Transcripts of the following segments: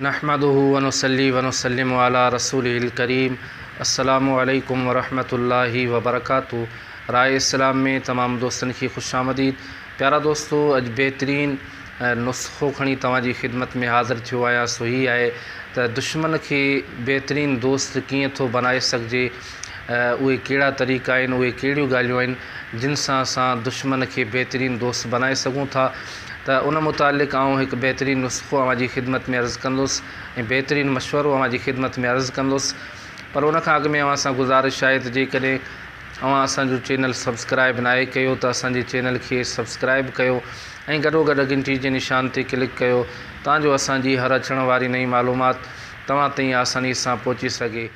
نحمده ونصلي ونسلم علي رسوله الڪريم السلام عليڪم ورحمة الله وبرڪاته راء اسلام ۾ تمام دوستن کي خوش آمديد پيارا دوستو اڄ بهترين نسخو کڻي توهان جي خدمت ۾ حاضر ٿيو آهيان سو هي آهي ته دشمن کي بهترين دوست ڪيئن ٿو بنائي سگهجي اهي ڪهڙا طريقا آهن اهي ڪهڙيون ڳالهيون آهن جن سان اسان دشمن کي بهترين دوست بنائي سگهون ٿا ته ان متعلق آئون هڪ بهترين نسخو اوهان جي خدمت ۾ عرض ڪندس ۽ بهترين مشورو اوهان جي خدمت ۾ عرض ڪندس پر ان کان اڳ ۾ اوهان سان گذارش آهي ته جيڪڏهن اوهان اسان جو چينل سبسڪرائب ناهي ڪيو ته اسان جي چينل کي سبسڪرائب ڪيو ۽ گڏوگڏ گهنٽي جي نشان تي ڪلڪ ڪيو تان جو اسان جي هر اچڻ واري نئين معلومات توهان تائين آساني سان پهچي سگهي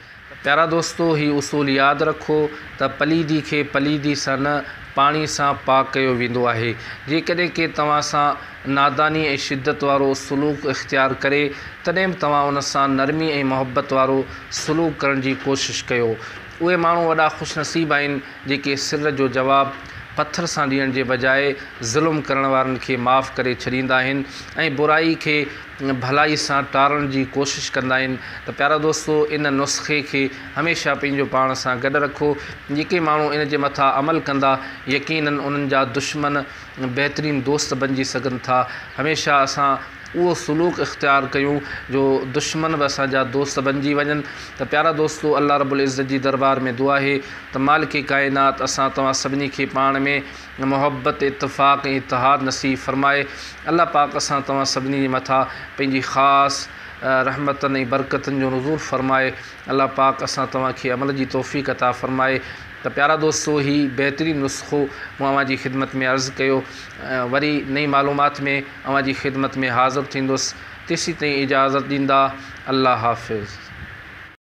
پيارا دوستو! هي اصول ياد رکو ته پليدي کي پليدي سان نه، پاڻي سان پاڪ ڪيو ويندو آهي. جيڪڏهن ڪي توهان سان ناداني ۽ شدت وارو سلوڪ اختيار ڪري، تڏهن به توهان ان سان نرمي ۽ محبت وارو سلوڪ ڪرڻ جي ڪوشش ڪيو. اهي ماڻهو وڏا خوشنصيب آهن، جيڪي سر جو جواب پٿر سان ڏيڻ جي بجاء ظلم ڪرڻ وارن کي معاف ڪري ڇڏيندا آهن ۽ برائي کي ڀلائي سان ٽارڻ جي ڪوشش ڪندا آهن ته پيارا دوستو ان نسخي کي هميشه پنهنجو پاڻ سان گڏ رکو جيڪي ماڻهو ان جي مٿان عمل ڪندا يقيناً انهن جا دشمن بهترين دوست بنجي سگهن ٿا هميشه اسان اهو سلوڪ اختيار ڪيون جو دشمن به اسان جا دوست بنجي وڃن ته پيارا دوستو الله رب العزت جي دربار ۾ دعا آهي ته مالڪ ڪائنات اسان توهان سڀني کي پاڻ ۾ محبت، اتفاق ۽ اتحاد نصيب فرمائي. الله پاڪ اسان توهان سڀني جي مٿان پنهنجي خاص رحمتن ۽ برڪتن جو نزول فرمائي. الله پاڪ اسان توهان کي عمل جي توفيق عطا فرمائي. ته پيارا دوستو هي بهترين نسخو مون اوهان جي خدمت ۾ عرض ڪيو. وري نئين معلومات ۾ اوهان جي خدمت ۾ حاضر ٿيندس. تيسين تائين اجازت ڏيندا. الله حافظ.